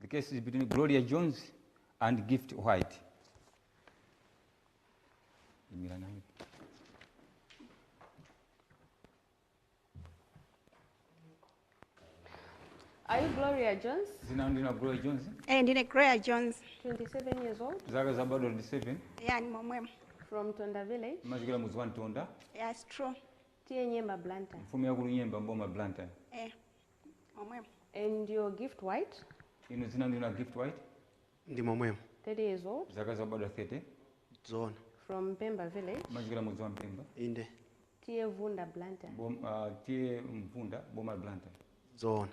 The case is between Gloria Jones and Gift White. Are you Gloria Jones? Zina ndina Gloria Jones. Eh, ndine Gloria Jones. 27 years old. Zaka za bado 27. Yeah, ni mwemwema. From Tonda Village. Machikira mudzi wa Tonda. Yeah, it's true. Tiye Nyemba Blantyre. Mfumu ya kulu Nyemba mboma Blantyre. Eh. momwemo And your gift white, inu dzina ndinu a gift white ndi momwemo 30 years old, zaka zakubadwa 30 zoona from Mpemba village, mumachokera m'mudzi wa mpemba inde T/A Mvunda Blantyre. bom, ah, T/A mvunda boma la blantyre zoona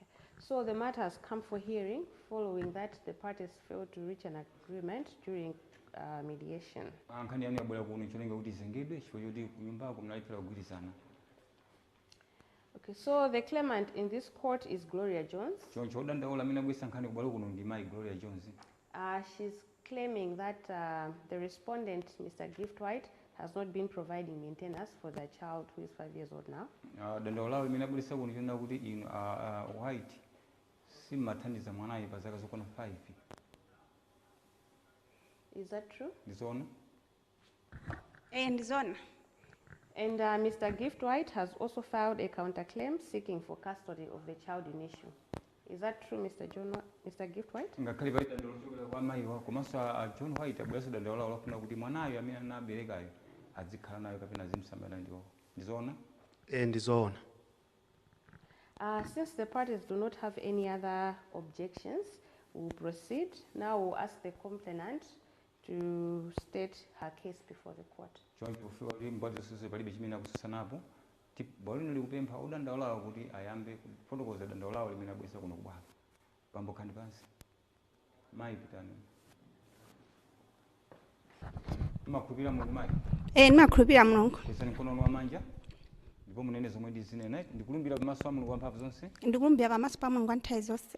Okay. So the matter has come for hearing following that the parties failed to reach an agreement during uh, mediation. Ah, nkhani yanu yabwera kuno cholinga kuti izengedwe chifukwa choti kunyumbako munalephera kugwirizana Okay, so the claimant in this court is Gloria Jones. Choncho odandaula amene wabweretsa nkhani ku bwalo kuno ndi mayi Gloria Jones. Uh, she's claiming that uh, the respondent, Mr. Gift White, has not been providing maintenance for their child who is five years old now. Uh, dandaula amene abweretsa kuno ndi lonena kuti inu uh, uh, White simumathandiza mwanayo pa zaka zokwana 5. Is that true? Ndizoona. Eh, ndi zona. And uh, Mr. Gift White has also filed a counterclaim seeking for custody of the child in issue. Is that true, Mr. John, Wa- Mr. Gift White? ngakhale pali dandaulo lochokera kwa mayiwa komanso a a john white abweretsanso dandaulo lawo lofuna kuti mwanayo amene anaberekayo azikhala naye kapena azimsamala ndiwo ndizoona Eh, ndi zoona. Uh, since the parties do not have any other objections, we'll proceed. Now we'll ask the complainant to state her case before the court. Choncho pofika kuti mbali zonse palibe chimene akutsutsanapo, tip, bwalo lino likupempha odandaulawa kuti ayambe kufotokoza dandaulo lawo limene abweretsa kuno ku bwalo. Bambo khalani pansi. Mayi pitani. Mumakhulupirira Mulungu mayi. Eh, ndimakhulupirira Mulungu. Kwezani mkono wanu wamanja ndipo munene zomwe ndizinena. Ndikulumbira pamaso pa Mulungu wamphamvu zonse Ndikulumbira pamaso pa Mulungu wa nthawi zonse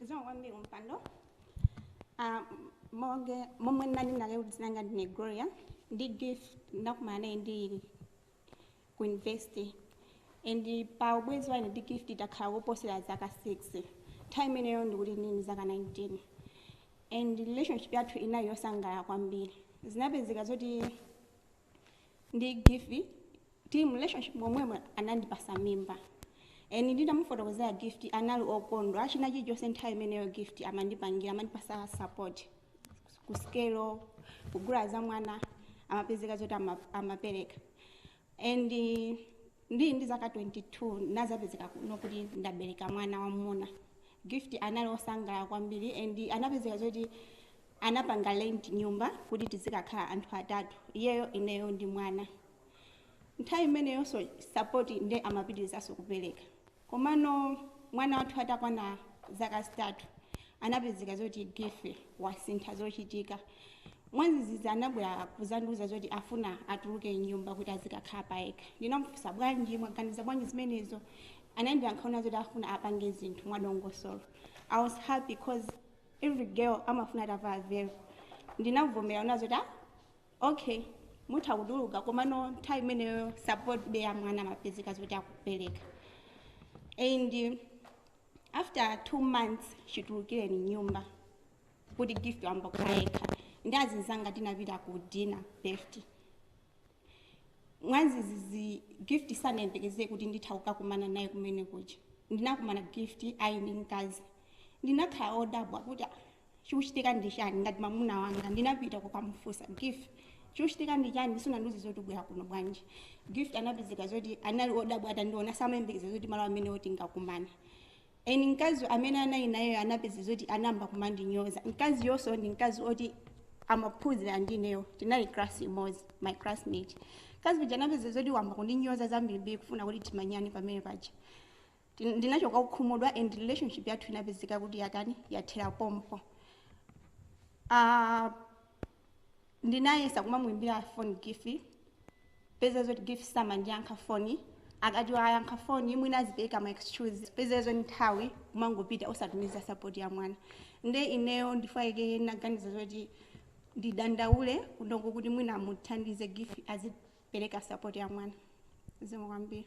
zikomo kwambiri kumpando Ah, monga momwe ndinanena kale kuti dzina langa ndine gloria ndi gift ndinakumana naye ndili ku university and pa ubwenzi wa ine ndi gift takhala koposera zaka 6 nthawi imeneyo ndikuti ndili ndi zaka 19 and relationship yathu inali yosangalala kwambiri zinapezeka zoti ndi Gift tili mu relationship momwemo anandipatsa mimba and nditamufotokozera Gift anali okondwa china chilichonse nthawi imeneyo Gift amandipangira amandipatsa support kusikelo kugula za mwana amapezeka zoti ama- amapereka and eh, ndili ndi zaka 22 ndinadzapezeka kuno kuti ndabereka mwana wamuna gift anali osangalala kwambiri and anapezeka zoti anapanga rent nyumba kuti tizikakhala anthu atatu iyeyo ineyo ndi mwana nthawi imeneyonso support nde amapitirizaso kupereka komano mwana wathu atakwana zaka zitatu anapezeka zoti gift wasintha zochitika mwadzidzidzi anabwera kuzandiuza zoti afuna atuluke mnyumba kuti azikakhala payekha ndinamufunsa bwanji mwaganiza bwanji zimenezo anandiyankha zoti afuna apange zinthu mwadongosolo i was happy cause every girl amafuna atavala velo ndinavomera nazo kuti ah, okay mutha kutuluka komano nthawi imeneyo support be ya mwana amapezeka zoti akupereka and after two months chitulukireni nyumba kuti gift wambokhala yekha ndi azinzanga tinapita ku dinner best mwadzidzidzi gift sanayembekezere kuti nditha kukakumana naye kumene kuja ndinakumana gift ali ndi mkazi ndinakhala odabwa kuti "Ah, chikuchitika ndi chani ngati mamuna wanga ndinapita kukamufunsa gift chikuchitika ndi chani sunandiuze zoti ubwera kuno bwanji gift anapezeka zoti anali odabwa atandiona samayembekeza zoti malo amene oti tingakumane And mkazi amene anali nayeyo anapezeka zoti anayamba kumandinyoza mkaziyonso ndi mkazi oti amaphunzira ndi ineyo tinali class imodzi my classmate mkazi uja anapezeka zoti wayamba kundinyoza zambirimbiri kufuna kuti timenyane pamene paja Tin- ndinachoka kukhumudwa and relationship yathu inapezeka kuti yatani yathera pompo Ah, ndinayesa kumamuimbira foni gift peza zoti gift samandiyankha foni akati wayankha foni mwina azipereka ma excuse peza zoti nthawi kumangopita osatumiza sapoti ya mwana nde ineyo ndifayike naganiza zoti ndidandaule kunoko kuti mwina amuthandize gift azipereka sapoti ya mwana zikomo kwambiri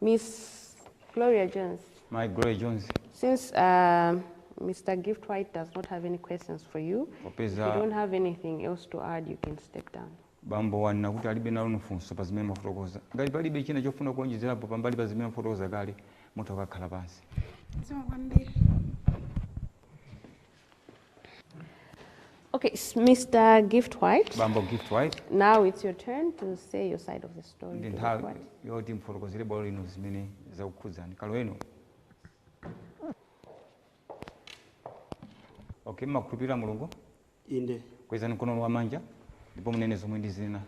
Miss Gloria Jones. Mayi Gloria Jones. Since uh, Mr. Gift White does not have any questions for you, Opeza. if you don't have anything else to add, you can step down. bambo wanena kuti alibe nanu funso pa zimene mwafotokoza ngati palibe china chofuna kuonjezerapo pambali pa zimene mwafotokoza kale mutha kukakhala pansi Zikomo kwambiri. Okay, s- Mr. Gift White, bambo gift white now it's your turn to say your side of the story. ndi nthawi Gift White. yoti mfotokozere bwalo lino zimene zikukukhudzani kaloweni okay mmakhulupirira mulungu inde kwezani mkono wamanja ndipo munene zomwe ndizinena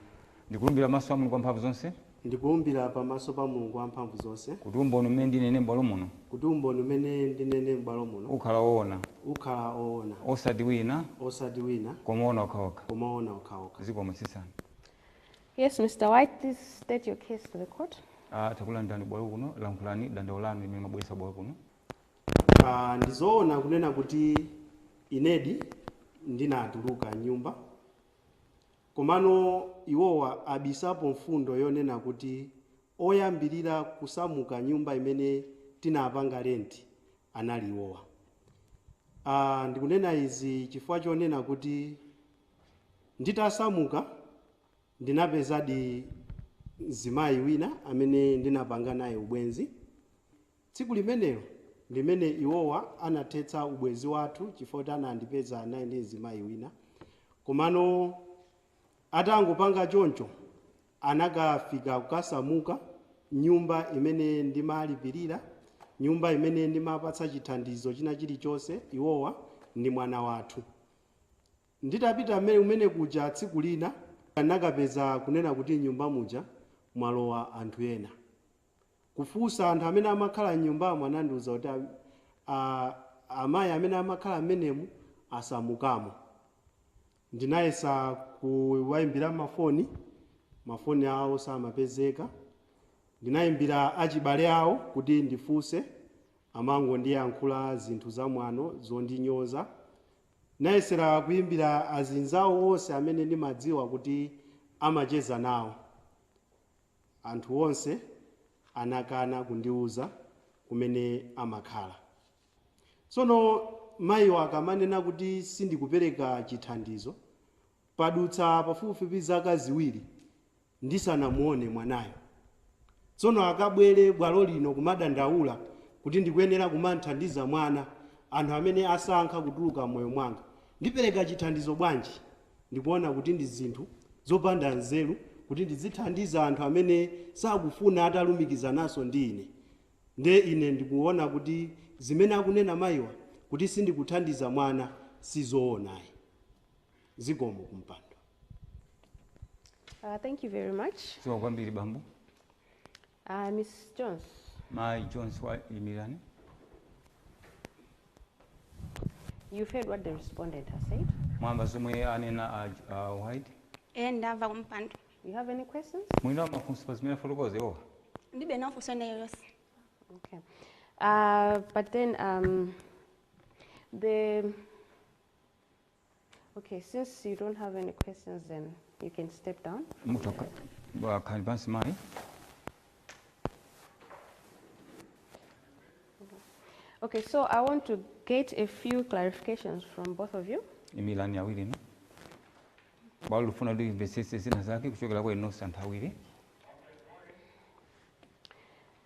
ndikulumbira pamaso a mulungu wamphamvu zonse Ndikulumbira pamaso pa Mulungu Wamphamvuzonse. Kuti umboni umene ndinene m'bwalo muno. Kuti umboni umene ndinene m'bwalo muno. Ukhala oona. Ukhala oona. Osati wina. Osati wina. Koma oona okhaokha. Koma oona okhaokha. Zikomo. Tsitsani. Yes, Mr. White, please state your case to the court. A, takulandirani kubwalo kuno. Lankhulani dandaulo lanu limene mwabweretsa kubwalo kuno. A, Ndi zoona kunena kuti inedi ndinatuluka m'nyumba. Komano iwowa abisapo mfundo yonena kuti oyambirira kusamuka nyumba imene tinapanga lenti anali iwowa. Aaa ndikunena izi chifukwa chonena kuti nditasamuka ndinapezadi mzimayi wina amene ndinapanga naye ubwenzi. Tsiku limenelo ndimene iwowa anathetsa ubwenzi wathu chifukwa kuti anandipeza ndili ndi mzimayi wina komano atangopanga choncho anakafika kukasamuka nyumba imene ndimalipilira, nyumba imene ndimapatsa chithandizo china chilichonse iwowa ndi mwana wathu. Nditapita kumene kuja tsiku lina ndinakapeza kunena kuti nyumba muja mwalowa anthu ena. kufunsa anthu amene amakhala m'nyumbamo anandiuza kuti a amayi amene amakhala m'menemu asamukamo. Ndinayesa kuwaimbira mafoni, mafoni awo samapezeka. Ndinaimbira achibale awo kuti ndifunse, amangondiyankhula zinthu zamwano zondinyoza. Ndinayesera kuimbira azinzawo onse amene ndimadziwa kuti amacheza nawo. Anthu onse anakana kundiuza kumene amakhala. Tsono mayiwa akamanena kuti sindikupereka chithandizo, padutsa pafupifupi zaka ziwiri ndisanamuone mwanayo. Tsono akabwere bwalo lino kumadandaula kuti ndikuyenera kumamthandiza mwana, anthu amene asankha kutuluka m'moyo mwanga, ndipereka chithandizo bwanji? Ndikuona kuti ndi zinthu zopanda nzeru kuti ndizithandiza anthu amene sakufuna atalumikizananso ndi ine. Nde ine ndikuona kuti zimene akunena mayiwa kuti sindikuthandiza mwana sizoona ayi. Zikomo kumpando. Uh, thank you very much. Zikomo kwambiri bambo. A Miss Jones. Mayi Jones wa imirani. You've heard what the respondent has said. Mwamva zomwe anena a, a White. Eh ndamva kumpando. You have any questions? Mwina mafunso pa zimene afotokoza iwowa. Ndilibe mafunso ena aliwonse. Okay. Uh, but then um, the Okay, since you don't have any questions, then you can step down. Mutha kukakhala pansi mayi. Okay, so I want to get a few clarifications from both of you. Imilani awirinu. Bwalo lufuna limvesese zina zake kuchokera kwa inu anthu awiri.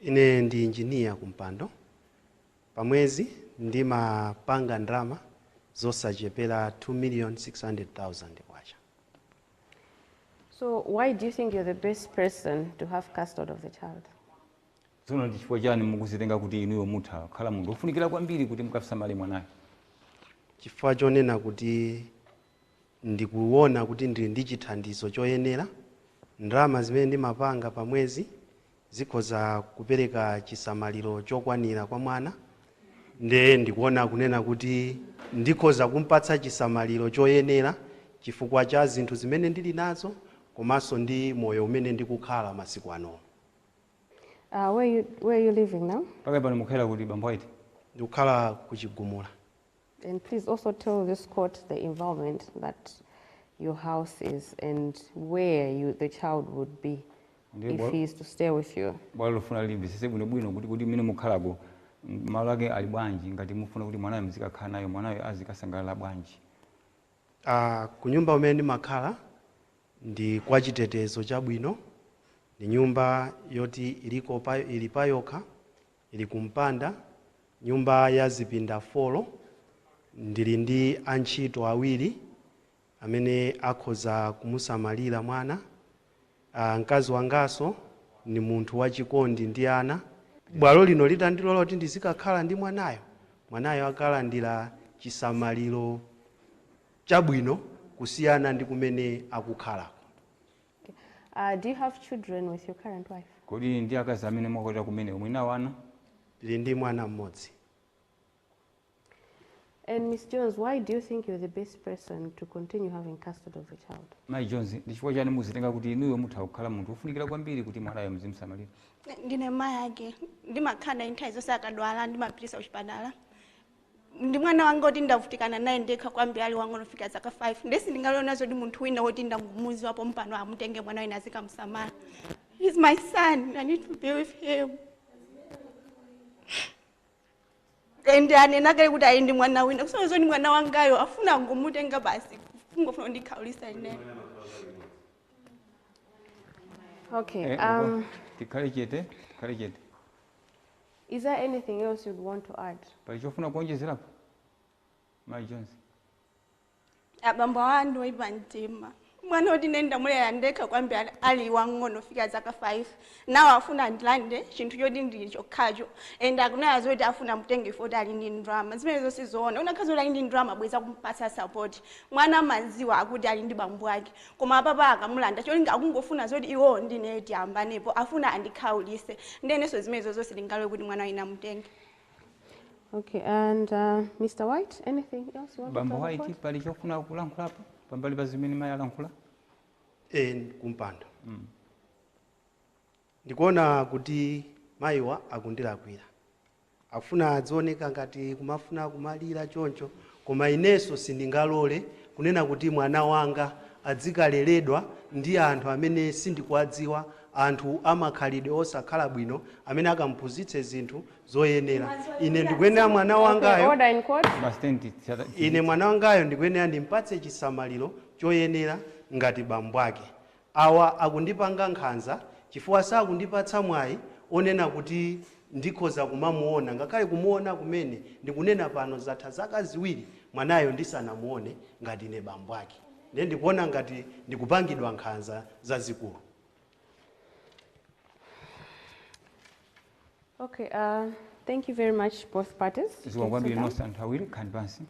Ine ndi engineer kumpando. Pa mwezi ndimapanga ndalama zosachepera K2,600,000. So why do you think you're the best person to have custody of the child? Tsono ndi chifukwa chani mukuzitenga kuti inuyo mutha kukhala munthu ofunikira kwambiri kuti mukasamale mwanayo? Chifukwa chonena kuti ndikuwona kuti ndili ndi chithandizo choyenera, ndalama zimene ndimapanga pa mwezi zikhoza kupereka chisamaliro chokwanira kwa mwana nde ndikuona kunena kuti ndikhoza kumpatsa chisamaliro choyenera chifukwa cha zinthu zimene ndili nazo komanso ndi moyo umene ndikukhala masiku anowu. Uh, where you, where you living now? Pakali pano mukukhala kuti bambo White? Ndikukhala ku Chigumula. And please also tell this court the environment that your house is and where you, the child would be Ndiye if bwa- he is to stay with you. bwalo lufuna limvesese bwinobwino kuti kuti mmene mukhalako m- malo ake ali bwanji ngati mufuna kuti mwanayo muzikakhala nayo mwanayo azikasangalala bwanji Uh, kunyumba kumene ndimakhala ndi kwa chitetezo chabwino ndi nyumba yoti iliko pa, ili payokha Ili kumpanda, nyumba ya zipinda folo. Ndili ndi antchito awiri amene akhoza kumusamalira mwana. Aa, mkazi wanganso ndi munthu wachikondi ndi ana. Bwalo lino litandilola kuti ndizikakhala ndi mwanayo, mwanayo akalandira chisamaliro chabwino kusiyana ndi kumene akukhalako. Uh, do you have children with your current wife? Kodi ndi akazi amene mwakwatira kumene muli nawo ana? Ndili ndi mwana mmodzi. And Miss Jones, why do you think you're the best person to continue having custody of the child? Mai Jones, ndi chifukwa chani muzitenga kuti inuyo mutha kukhala munthu wofunikira kwambiri kuti mwanayo muzimsamalira? Ndine mai ake. Ndimakhala naye nthawi zonse akadwala ndimapititsa kuchipatala. ndi mwana wanga oti ndavutikana naye ndekha kwambiri ali wang'ono kufika zaka 5 ndiye sindingalole zoti munthu wina woti ndangumuziwa pompano amutenge mwanayo wina azikamusamala he's my son i need to be with him and anena kale kuti ali ndi mwana wina kusonyeza kuti mwana wangayo afuna kungomutenga basi kungofuna kundikhaulisa ineyo okay Eh, um, tikhale chete tikhale chete Is there anything else you'd want to add? Pali chofuna kuonjezerapo? Mai Jonzi. abambo awa ndi oyipa mtima mwana woti ine ndamulera ndekha kwambi ali- ali wang'ono kufika zaka 5 awa afuna ndilande chinthu choti ndili chokhacho and akunena zoti afuna amutenge poti ali ndi ndrama zimene zonse zoona anakhala kuti ali ndi ndrama bwenzi akumpasa sapoti mwana amaziwa kuti ali ndi bambo ake koma apapa akamulanda cholinga akungofuna zoti iwowo ndi ineyo tiyambanepo afuna andikhaulise nde inenso zimenezozo sindingalole kuti mwana wanga amutenge Okay, and uh, Mr. White, anything else you want to bambo tell the White court? pali chofuna kulankhulapo pambali pa zimene mayi alankhula eh kumpando ndikuona kuti mayiwa akundilakwira Akufuna adzioneka ngati kumafuna kumalira choncho koma inenso sindingalore kunena kuti mwana wanga adzikaleledwa ndi anthu amene sindikuwadziwa anthu amakhalidwe osakhala bwino amene akamuphunzitse zinthu zosayenera ine ndikuyenera mwana Okay, wangayo order in court. Basi tiyeni ti- ti- ine tizitha. mwana wangayo ndikuyenera ndimpatse chisamaliro choyenera ngati bambo ake Awa akundipanga nkhanza chifukwa sakundipatsa mwayi onena kuti ndikhoza kumamuona ngakhale kumuona kumene ndikunena pano zatha zaka ziwiri mwanayo ndisanamuone ngati ine bambo ake ndiye ndikuona ngati ndikupangidwa nkhanza zazikulu. Okay, uh, thank you very much both parties. Zikomo kwambiri nonse anthu awiri, khalani pansi.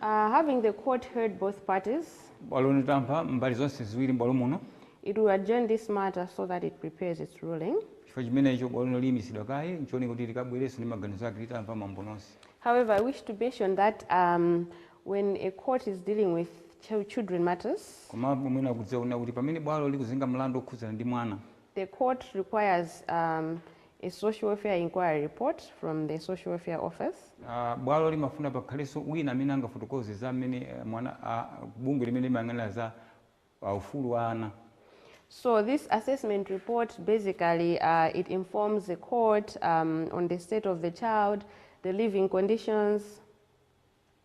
Uh, having the court heard both parties, bwalo litamva mbali zonse ziwiri m'bwalo muno it will adjourn this matter so that it prepares its ruling. chifukwa chimenecho bwalo lino liyimitsidwa kaye ncholinga kuti likabwerenso ndi maganizo ake litamva mbali zonse However, I wish to mention that um, when a court is dealing with ch- children matters, koma mwina kudziwa kuti pamene bwalo likuzenga mlandu okhudzana ndi mwana The court requires um, a social welfare inquiry report from the social welfare office. Uh, bwalo limafuna pakhalenso wina amene angafotokoze za mmene eh, mwana uh, bungwe limene limayang'anira za uh, ufulu wa ana So this assessment report basically uh, it informs the court um, on the state of the child, the living conditions.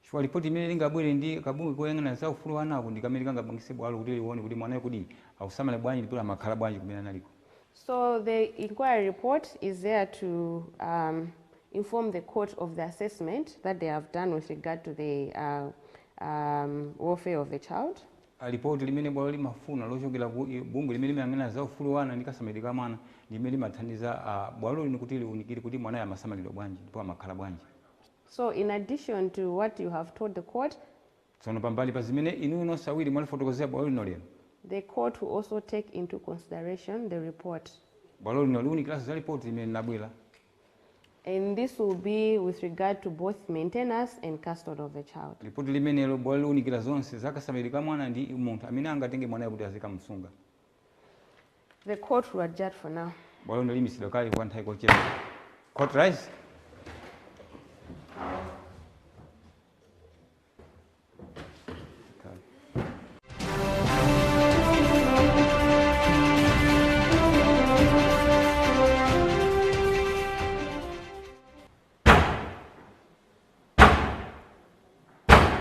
Chifukwa lipoti limene lingabwere ndi kabungwe koyang'anira za ufulu wa anako ndi kamene kangapangitse bwalo kuti liwone kuti mwanayo kodi akusamalidwa bwanji ndipo amakhala bwanji kumene aliko. So the inquiry report is there to um, inform the court of the assessment that they have done with regard to the uh, um, welfare of the child. A lipoti limene bwalo limafuna lochokera ku i- bungwe limene limayang'anira za ufulu wa ana ndi kasamalidwe ka mwana ndi limene limathandiza ah, bwalo lino kuti liunikire kuti mwanayo amasamalidwa bwanji ndipo amakhala bwanji. So in addition to what you have told the court, Tsono pambali pa zimene inuyo nonse awiri mwalifotokozera bwalo lino lero, the court will also take into consideration the report. bwalo lino liunikiranso za lipoti limene linabwera And this will be with regard to both maintenance and custody of the child. lipoti limenelo bwalo liunikira zonse za kasamalidwe ka mwana ndi munthu amene angatenge mwanayo kuti azikamsunga The court will adjourn for now. Bwalo lino liyimitsidwa kaye kwa nthawi kochepa. Court rise.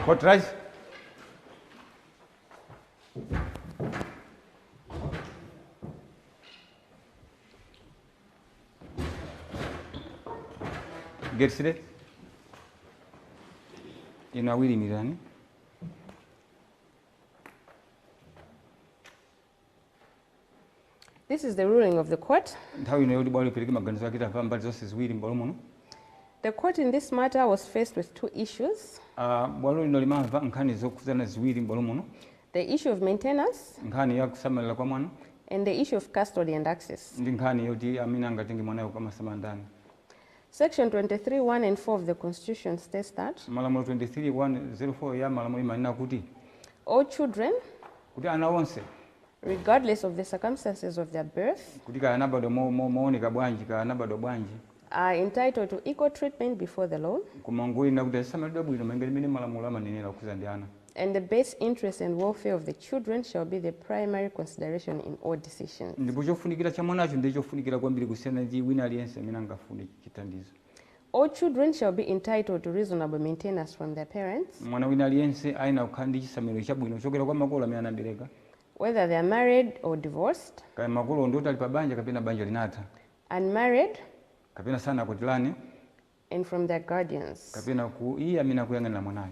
Court rise. Get seated. Inu awiri imirani. This is the ruling of the court. Nthawi ino ndi yoti bwalo lipereke maganizo ake tamva mbali zonse ziwiri m'bwalo muno. The court in this matter was faced with two issues. Uh, bwalo lino limamva nkhani zokhudzana ziwiri m'bwalo muno. The issue of maintenance. Nkhani ya kusamalira kwa mwana. And the issue of custody and access. Ndi nkhani yoti amene angatenge mwanayo kukamsamala ndani. Section 23 1 and 4 of the Constitution states that. Malamulo 23 1, 0 4 ya malamulo imanena kuti. All children. kuti ana onse. regardless of the circumstances of their birth. kuti kaya anabadwa mooneka bwanji kaya anabadwa bwanji. are entitled to equal treatment before the law. koma ngoyenera kuti asamalidwe bwino malinga ndi mmene malamulo amanenera okhudza ndi ana. and the best interest and welfare of the children shall be the primary consideration in all decisions. ndipo chofunikira cha mwanacho ndi chofunikira kwambiri kusiyana ndi wina aliyense amene angafune chithandizo All children shall be entitled to reasonable maintenance from their parents, mwana wina aliyense ayenera kukhala ndi chisamaliro chabwino kuchokera kwa makolo amene anabereka whether they are married or divorced, kaya makolo ndi oti ali pa banja kapena banja linatha unmarried, kapena sanakwatirane and from their guardians. kapena iye amene akuyang'anira mwanayo.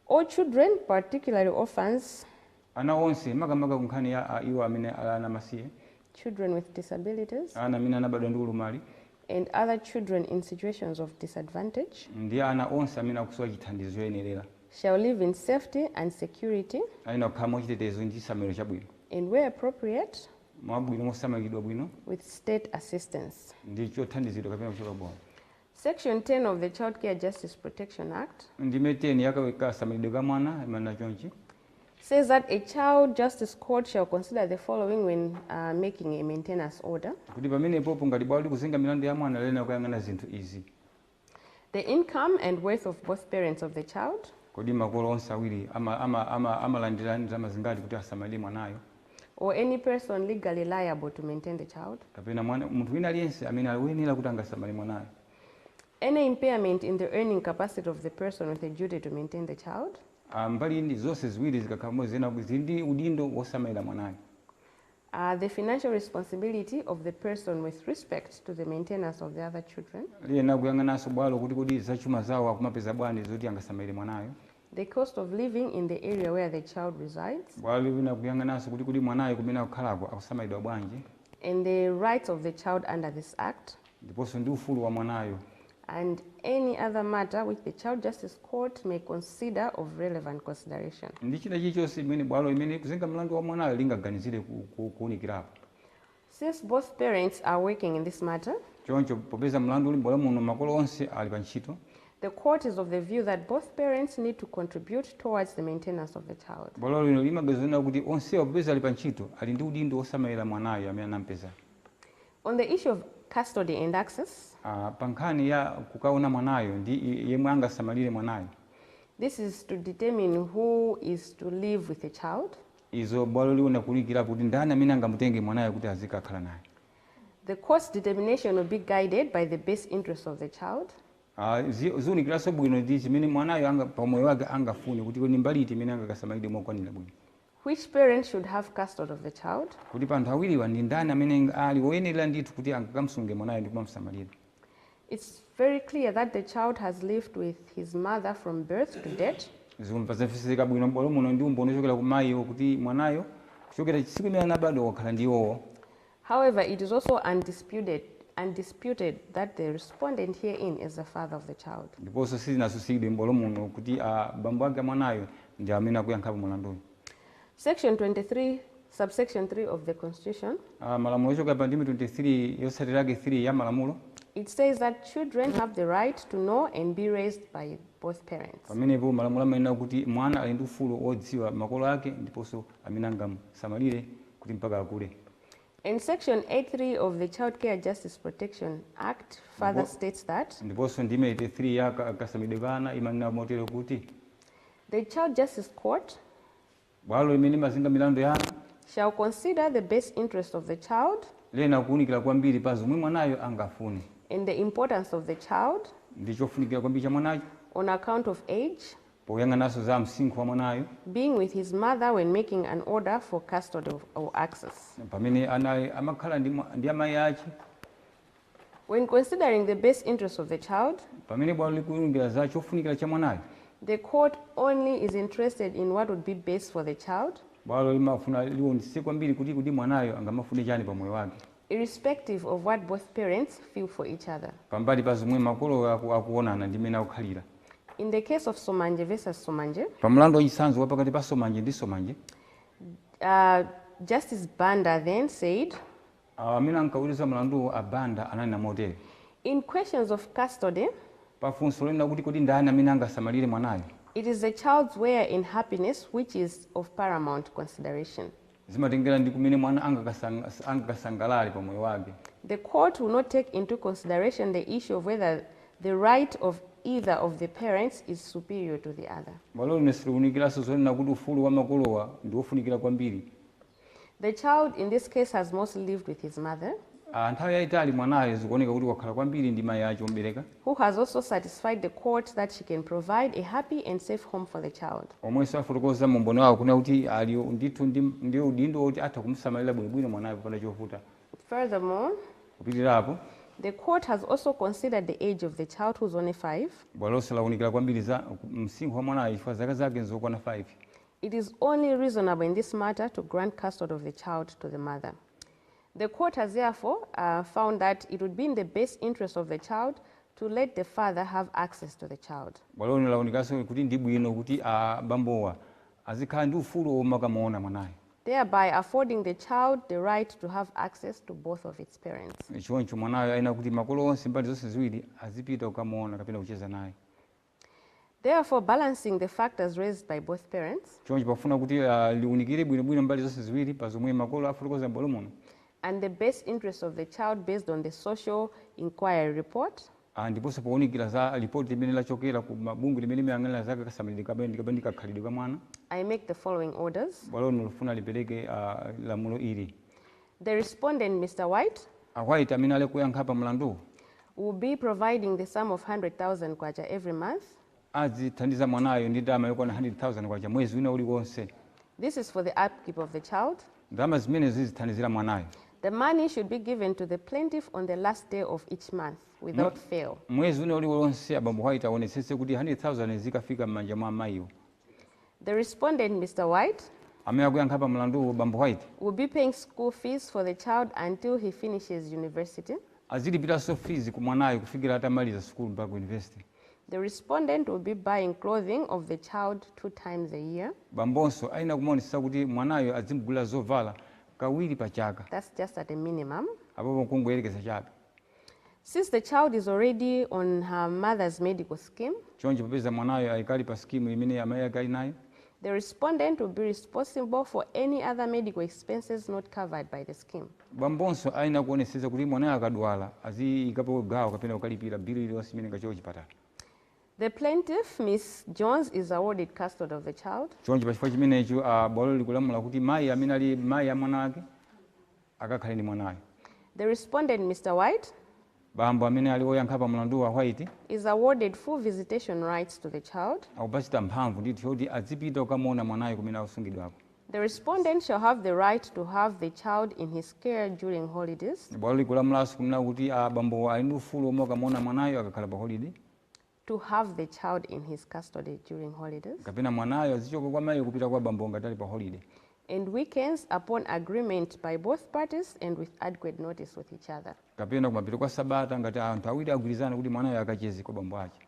All children, particularly orphans. Ana onse, makamaka ku nkhani ya iwo amene ali ana amasiye. children with disabilities. ana amene anabadwa ndi ulumali. and other children in situations of disadvantage. ndi ana onse amene akusowa chithandizo choyenerera. shall live in safety and security. ayenera kukhala mwachitetezo ndi chisamaliro chabwino. and where appropriate. mwabwino mosamaliridwa bwino. with state assistance. ndi chothandizidwa kapena kuchoka bwalo. Section 10 of the Child Care Justice Protection Act ndime 10 ya kasamaliridwe ka mwana imanena chonchi says that a child justice court shall consider the following when uh, making a maintenance order. kuti pamenepopo ngati bwalo likuzenga milandu ya mwana liyenera kuyang'ana zinthu izi The income and worth of both parents of the child. Kodi makolo onse awiri amalandira ndalama zingati kuti asamalire mwanayo? or any person legally liable to maintain the child. kapena munthu wina aliyense amene ali woyenera kuti angasamalire mwanayo. Any impairment in the earning capacity of the person with a duty to maintain the child. Mbali zonse ziwiri zikakhala pamodzi ziyenera kuti zili ndi udindo wosamalira mwanayo. a The financial responsibility of the person with respect to the maintenance of the other children. Liyenera kuyang'ananso bwalo kuti kodi za chuma zawo akumapeza bwanji zoti angasamalire mwanayo. The cost of living in the area where the child resides. Bwalo liyenera kuyang'ananso kuti kodi mwanayo kumene akukhalako akusamalidwa bwanji. and the rights of the child under this Act. ndiponso ndi ufulu wa mwanayo. and any other matter which the Child Justice Court may consider of relevant consideration. ndi china chilichonse chimene bwalo limene likuzenga mlandu wa mwanayo lingaganizire kuunikirapo. Since both parents are working in this matter. choncho popeza mlandu uli m'bwalo muno makolo onse ali pantchito. the court is of the view that both parents need to contribute towards the maintenance of the child. bwalo lino limaganiza zonena kuti onsewa popeza ali pantchito ali ndi udindo wosamalira mwanayo amene anampeza. On the issue of custody and access. Pa nkhani ya kukaona mwanayo ndi yemwe angasamalire mwanayo. This is to determine who is to live with the child. Izo bwalo liona kuunikira kuti ndani amene angamutenge mwanayo kuti azikakhala naye. The court's determination will be guided by the best interests of the child. Ziunikiranso bwino ndi chimene mwanayo pa umoyo wake angafune kuti kodi ndi mbali iti imene angakasamalidwe mokwanira bwino. Which parent should have custody of the child? Kodi pa anthu awiriwa ndi ndani amene ali woyenerera ndithu kuti angakamsunge mwanayo ndi kumamsamalira? It's very clear that the child has lived with his mother from birth to date. Zomva zamveseseka bwino m'bwalo muno ndi umboni wochokera kwa mayiwo kuti mwanayo kuchokera tsiku limene anabadwa wakhala ndi iwowo. However, it is also undisputed undisputed that the respondent herein is the father of the child. Ndiponso sizinatsutsidwe m'bwalo muno kuti a bambo ake a mwanayo ndi amene akuyankhapo mulanduwo. Section 23, subsection 3 of the Constitution, A malamulo ochokera pa ndime 23 yotsatira yake 3 ya malamulo, it says that children have the right to know and be raised by both parents. pamenepo malamulo amanena kuti mwana ali ndi ufulu wodziwa makolo ake ndiponso amene angamusamalire kuti mpaka akule. And section 83 of the Child Care Justice Protection Act further Ndipo- states that ndiponso ndime 83 ya ka- kasamalidwe ka ana imanena motere kuti the Child Justice Court bwalo limene limazenga milandu ya ana shall consider the best interest of the child lena kuwunikira kwambiri pa zomwe mwanayo angafune and the importance of the child ndi chofunikira kwambiri cha mwanayo on account of age, Poyang'ananso za msinkhu wa mwanayo. being with his mother when making an order for custody or access. pamene anawa amakhala ndi ndi amayi ache. when considering the best interests of the child. pamene bwalo likuunikira za chofunikira cha mwanayo. the court only is interested in what would be best for the child. bwalo limafuna liwonetsetse kwambiri kuti kodi mwanayo angamafune chani pa moyo wake. irrespective of what both parents feel for each other. pambali pa zomwe makolowo aku, akuonana ndi mmene akukhalira. In the case of Somanje versus Somanje. Pa mlandu wa chitsanzo wa pakati pa Somanje ndi Somanje. Uh, Justice Banda then said. Awo amene ankaweruza mlanduwo a Banda ananena motere. In questions of custody. Pa funso lonena kuti kodi ndani amene angasamalire mwanayo. It is the child's welfare and happiness which is of paramount consideration. Zimatengera ndi kumene mwana angakasangalale pa moyo wake. The court will not take into consideration the issue of whether the right of either of the parents is superior to the other. Bwalo lino silikuunikiranso zonena kuti ufulu wa makolowa ndi wofunikira kwambiri. The child in this case has mostly lived with his mother. a nthawi yaitali mwanayo zikuoneka kuti wakhala kwambiri ndi mayi ake omubereka. who has also satisfied the court that she can provide a happy and safe home for the child. omwenso afotokoza mu umboni wawo kunena kuti ali ndithu ndi ndi udindo woti atha kumusamalira bwinobwino mwanayo popanda chovuta. Furthermore, Kupitirira apo. the court has also considered the age of the child who is only 5. Bwalonso lawunikira kwambiri za, msinkhu wa mwanayo chifukwa zaka zake nzokwana 5. it is only reasonable in this matter to grant custody of the child to the mother. The court has therefore uh, found that it would be in the best interest of the child to let the father have access to the child. Bwalo lino launikanso kuti ndi bwino kuti abambowa azikhala ndi ufulu womakamuona mwanayo. thereby affording the child the right to have access to both of its parents. choncho mwanayo ayenera kuti makolo onse mbali zonse ziwiri azipita kukamuona kapena kucheza naye Therefore, balancing the factors raised by both parents. Choncho pofuna kuti liunikire bwino bwino mbali zonse ziwiri pa zomwe makolo afotokoza m'bwalo muno. and the best interests of the child based on the social inquiry report. a Ndiponso pounikira za lipoti limene lachokera ku bungwe limene limayang'anira za kasamalidwe kapena ndi kakhalidwe ka mwana, I make the following orders. bwalo lino lifuna lipereke lamulo ili. The respondent, Mr White. A White amene ali kuyankha pa mlanduwu. Will be providing the sum of K100,000 every month. Azithandiza mwanayo ndi ndalama yokwana K100,000 mwezi wina uliwonse. This is for the upkeep of the child. Ndalama zimenezi zizithandizira mwanayo. The money should be given to the plaintiff on the last day of each month without fail. Mwezi wina uliwonse abambo White awonetsetse kuti K100,000 izikafika m'manja mwa amayiwo. The respondent, Mr. White, Amene akuyankha pa mlanduwu, bambo White, will be paying school fees for the child until he finishes university. azilipiranso fees ku mwanayo kufikira atamaliza sukulu mpaka ku university. The respondent will be buying clothing of the child two times a year. Bambonso ayenera kumaonetsetsa kuti mwanayo adzimugulira zovala kawiri pa chaka. That's just at a minimum. Apopo nkungoyerekeza chabe. Since the child is already on her mother's medical scheme, Choncho popeza mwanayo ali kale pa sikimu imene amai ake ali nayo, the respondent will be responsible for any other medical expenses not covered by the scheme. bambonso ayenera kuonetsetsa kuti mwanayo akadwala aziikapo gawo kapena kukalipira bili iliyonse imene ingachoke kuchipatala. The plaintiff, Ms. Jones, is awarded custody of the child. Choncho pa chifukwa chimenecho, a bwalo likulamula kuti mai amene ali mai a mwana wake, akakhale ndi mwanayo. The respondent, Mr White. bambo amene ali oyankha pa mlanduwu a White. is awarded full visitation rights to the child. akupatsidwa mphamvu ndithu yoti adzipita kukamuona mwanayo kumene akusungidwako. The respondent shall have the right to have the child in his care during holidays. Bwalo likulamulaso kunena kuti a bambo ali ndi ufulu womakamuona mwanayo akakhala pa holiday. to have the child in his custody during holidays. kapena mwanayo azichoka kwa mayiyo kupita kwa bambo ngati ali pa holiday. and weekends upon agreement by both parties and with adequate notice with each other. kapena kumapeto kwa sabata ngati anthu awiri agwirizana kuti mwanayo akacheze kwa bambo ake.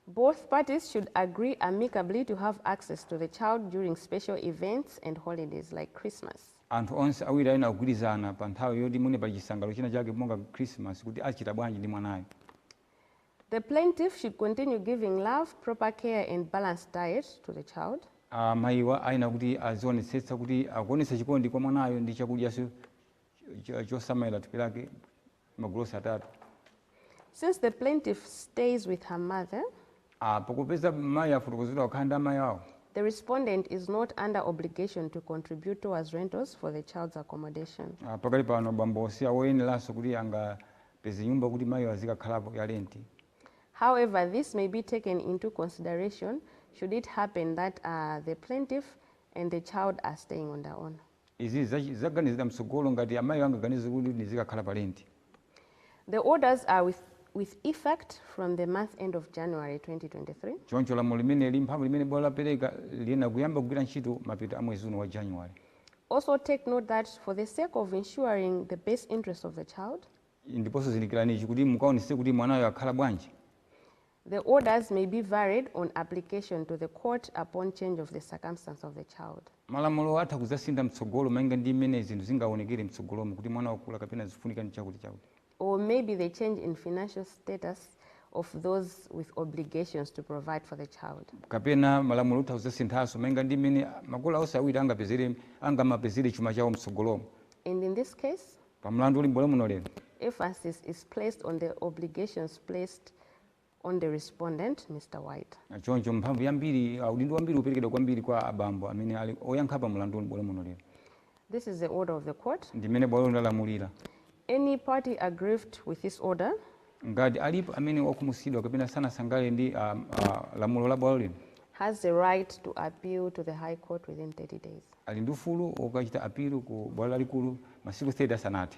Both parties should agree amicably to have access to the child during special events and holidays like Christmas. anthu onse awiri ayenera kugwirizana pa nthawi yoti mwina pa chisangalalo china chake monga Christmas kuti achita bwanji ndi mwanayo. The plaintiff should continue giving love, proper care and balanced diet to the child. A mayiwa ayenera kuti azionetsetsa kuti akuonetsa chikondi kwa mwanayo ndi chakudyanso chosamalira thupi lake magulu onse atatu. Since the plaintiff stays with her mother. A popeza mayi afotokozedwa kukhala ndi amayi awo. The respondent is not under obligation to contribute towards rentals for the child's accommodation. A pakali pano bambo si awoyeneranso kuti anga peze nyumba kuti maiyo azikakhalapo ya lenti. However, this may be taken into consideration should it happen that the plaintiff and the child are staying on their own. Izi zidzaganizidwa mtsogolo ngati amaiyo angaganize kuti ndizikakhala pa lenti. The orders are with with effect from the month end of January 2023. Choncho lamulo limeneli, mphamvu limene bwalo lapereka liyenera kuyamba kugwira ntchito mapeto a mwezi uno wa January. Also take note that for the sake of ensuring the best interest of the child, ndiponso zindikirani ichi kuti mukaonetsetse kuti mwanayo akhala bwanji. the orders may be varied on application to the court upon change of the circumstance of the child. Malamulowa atha kudzasintha mtsogolo malinga ndi mmene zinthu zingaonekere mtsogolomo kuti mwana wakula kapena zifunika chakuti chakuti. or maybe the change in financial status of those with obligations to provide for the child. kapena malamulo atha kuzasinthaso malinga ndi mmene makolo onse awiri angapezere angamapezere chuma chawo mtsogolomo. And in this case. pa mlandu uli m'bwalo muno lero. emphasis is placed on the obligations placed on the respondent, Mr. White. Choncho mphamvu yambiri, a, udindo wambiri uperekedwa kwambiri kwa abambo amene ali oyankha pa mlandu uli m'bwalo muno lero. This is the order of the court. Ndi mmene bwalo lino lalamulira. Any party aggrieved with this order Ngati alipo amene wakhumudwitsidwa kapena sanasangalale ndi a, a, lamulo la bwalo lino has the right to appeal to the High Court within 30 days. ali ndi ufulu wokachita apilu ku bwalo lalikulu masiku 30 asanathe.